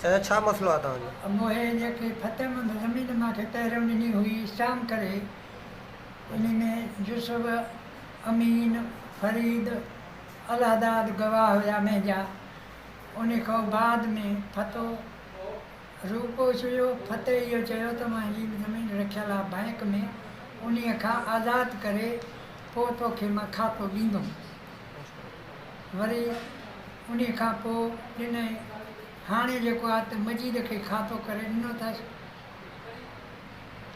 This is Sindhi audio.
چاچا ڇا مسئلو آ توهان جو. اموهي انهيء کي ڦتم زمين مان کي پهريون ڏني هئي اسٽام ڪري انهي ۾ يوسف، امين، فريد، الهداد گواهه هيا مهنجا انهي کان بعد ۾ ڦتو. روپو سويو ڦتح اهو چيو ته مان جي زمين رکيل آ بئنڪ ۾ انهي کان آزاد ڪري پو توکي مان کاتو ڏيندم وري انهي کان پو ڏنئي هاڻي جيڪو آ ته مجيد کي کاتو ڪري ڏنو ٿس.